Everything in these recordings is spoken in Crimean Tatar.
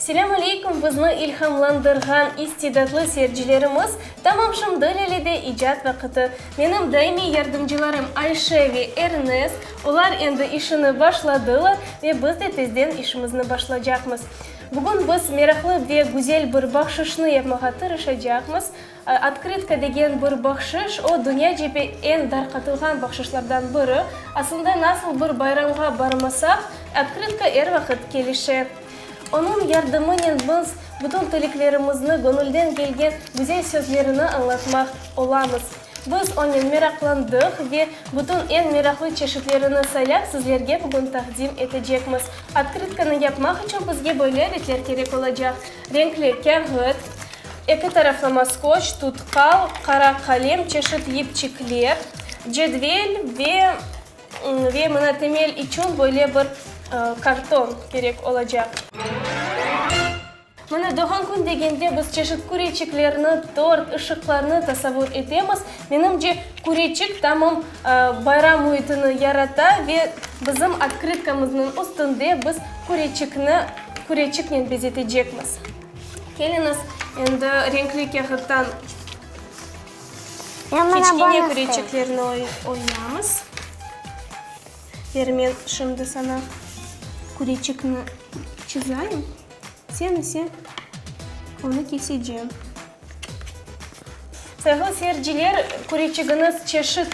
Selâm aleykum, bizni ilhamlandırğan istidatlı seyircilerimiz! Tamam, şimdi Lelede icat vaqıtı. Menim daimiy yardımcılarım Ayşe ve Ernest, olar endi işini başladılar ve biz de tezden işimizni başlaycaqmız. Bugün biz meraqlı ve güzel bir bahşışnı yapmağa tırışacaqmız. Otkritka degen bir bahşış, o, dünyacebi eñ darqatılğan bahşışlardan biri. Aslında, nasıl bir bayramğa barmasaq, otkritka er vaqıt kelişe. Onıñ yardımınen biz bütün tileklerimizni, göñülden kelgen güzel sözlerini añlatmaq olamız. Biz onen meraqlandıq ve bütün eñ meraqlı çeşitlerini saylap, sizlerge bugün taqdim etecekmiz. Otkrıtkanı yapmaq içün bizge böyle adetler kerek olacaq. Renkli kâğıt, eki taraflı maskoç, tutkal, qara qalem, çeşit yipçikler, cedvel ve ve mına temel içün böyle bir karton kerek olacaq. Mına doğğan kün degende biz çeşit küreçiklerni, tort, ışıqlarnı tasavur etemiz. Menimce, küreçik tamam bayram müitini yarata ve bizim otkıtkamıznıñ üstünde biz küreçikni küreçiknen bezetecekmiz. Keliñiz, endi renkli kâğıttan kiçkene küreçiklerni oyamız. Ver, men şimdi saña küreçikni çizeyim, sen ise onı keseceksin. Sayıqlı seyirciler, küreçigiñiz çeşit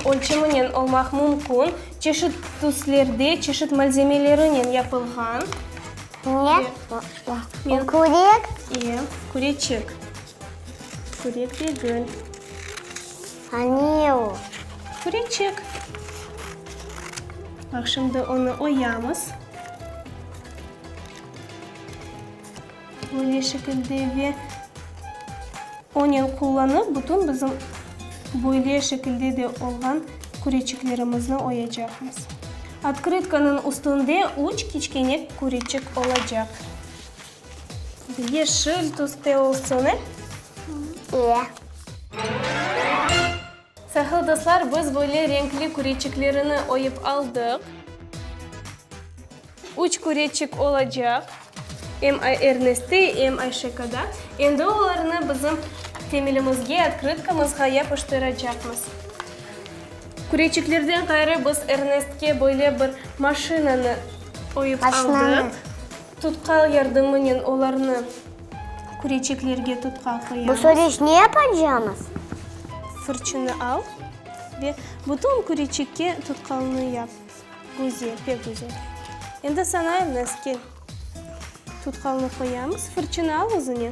ölçeminen olmaq mümkün, çeşit tüslerde, çeşit malzemelerinen yapılğan. Ne? Bu kürek? İyi, küreçik. Kürek degil. A ne o? Küreçik. Baq, şimdi onı oyamız. Böyle şekilde ve onen qullanıp bütün bizim böyle şekilde de olğan küreçiklerimizni oyacaqmız. Otkrytkanıñ üstünde üç kiçkene küreçik olacaq. Yeşil tüste olsun, e? E. Sahil dostlar, biz böyle renkli küreçiklerini oyıp aldıq. Üç küreçik olacaq. Em Erneste, em Ayşekada. Endi olarnı bizim temilimizge, otkrıtkamızğa yapıştıracaqmız. Küreçiklerden ğayrı biz Ernestke böyle bir maşinanı oyıp aldıq. Tutkal yardımınen olarnı küreçeklerge tutqal qoyamız. Bu soreç ne yapacağımız? Fırçını al ve bütün küreçekke tutqalını yap. Güzel, pek güzel. Endi sana Elnaz, kel. Tutqalını qoyamız, fırçını al özüne.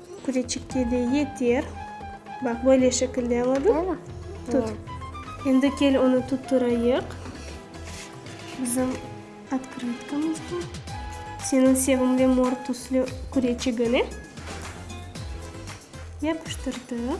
Küreçikke de yeter. Baq, böyle şekilde aladın. Böyle? Tut. Endi kel onı tutturayıq. Bizim otkrotkamiz bu. Seniñ sevimli mor tüslü küreçigiñi yapıştırdık.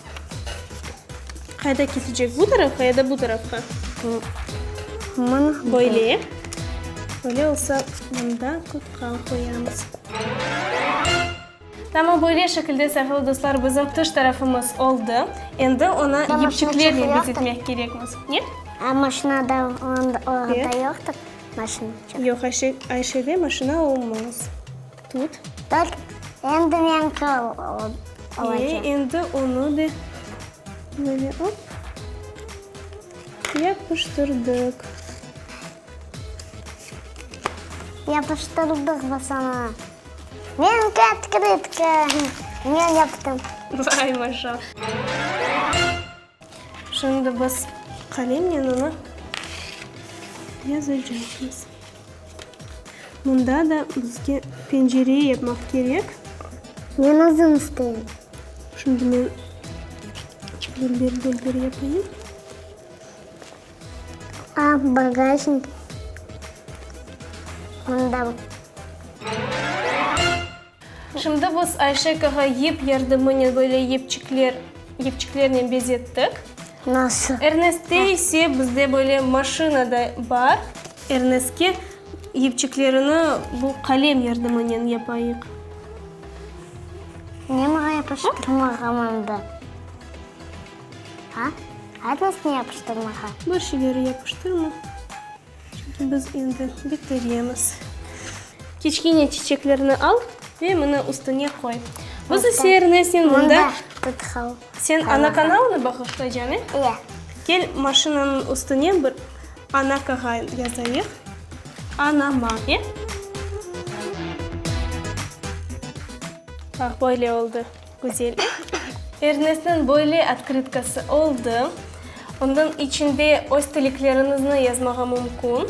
Qayda kesecek? Bu tarafqa ya da bu tarafqa? Mına böyle. Böyle olsa mında tutqan qoyamız. Tamam, böyle şekilde sevgili dostlar bizim tış tarafımız oldı. Endi onı yipçiklerle bezetmek kerekmiz. Ne? A maşinada yoqtır maşina? Yoq, Ayşede maşina olmaz. Tut. Bak, endi meñki olacaq. E, endi onı da böyle op, yapıştırdıq. Yapıştırdıq biz onı. Meñki otkritka. Men yaptım. Vay, maşallah. Şimdi biz qalemnen onı yazacaqmız. Mında da bizge pencere yapmaq kerek. Men uzun isteyim. Şimdi men bölber-bölber yapayım. A, bagajnik. Mında Şimdi biz Ayşe kağa yip yardımınen böyle yipçikler, yipçiklernen bezettik. Nasıl? Erneste ise bizde böyle maşina da bar. Ernestke yipçiklerini bu qalem yardımınen yapayıq. Niye maña yapıştırmağa mında? A? Aynısını yapıştırmağa? Bir şeyleri yapıştırma. Çünki biz endi bitiremiz. Kiçkine çiçeklerni al ve mına üstüne qoy. Biz ise Ernesnen mında. Sen ana kanalını bağışlaycan, e? Ya. Kel maşinanıñ üstüne bir ana kağa yazayıq. Anama, e? Bax, böyle oldı. Güzellik. Ernestniñ böyle otkrytkası oldı. Onıñ içinde öz tileklerinizni yazmağa mümkün.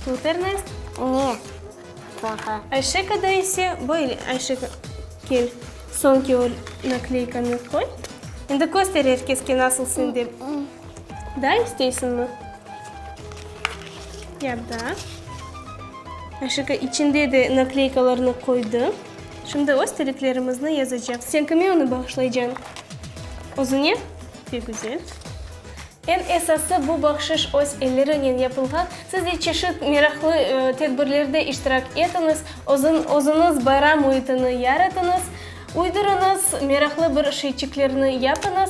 Tut, Ernest. Ne? Plaha. Ayşekada ise böyle. Ayşeka, kel, soñki o nakleykanı qoy. Endi köster er keske nasıl sende. Daa isteysiñmi? Ya da. Aşıqa içinde de nakleykalarnı qoydı. Şimdi öz tileklerimizni yazacaq. Sen kime onı bağışlaycañ? Özüñe? Pek güzel. Eñ esası, bu bahşış öz elleriñnen yapılğan. Siz de çeşit meraqlı tedbirlerde iştirak etiñiz, özüñiz bayram müitini yaratıñız, uydurıñız, meraqlı bir şeyçiklerni yapıñız.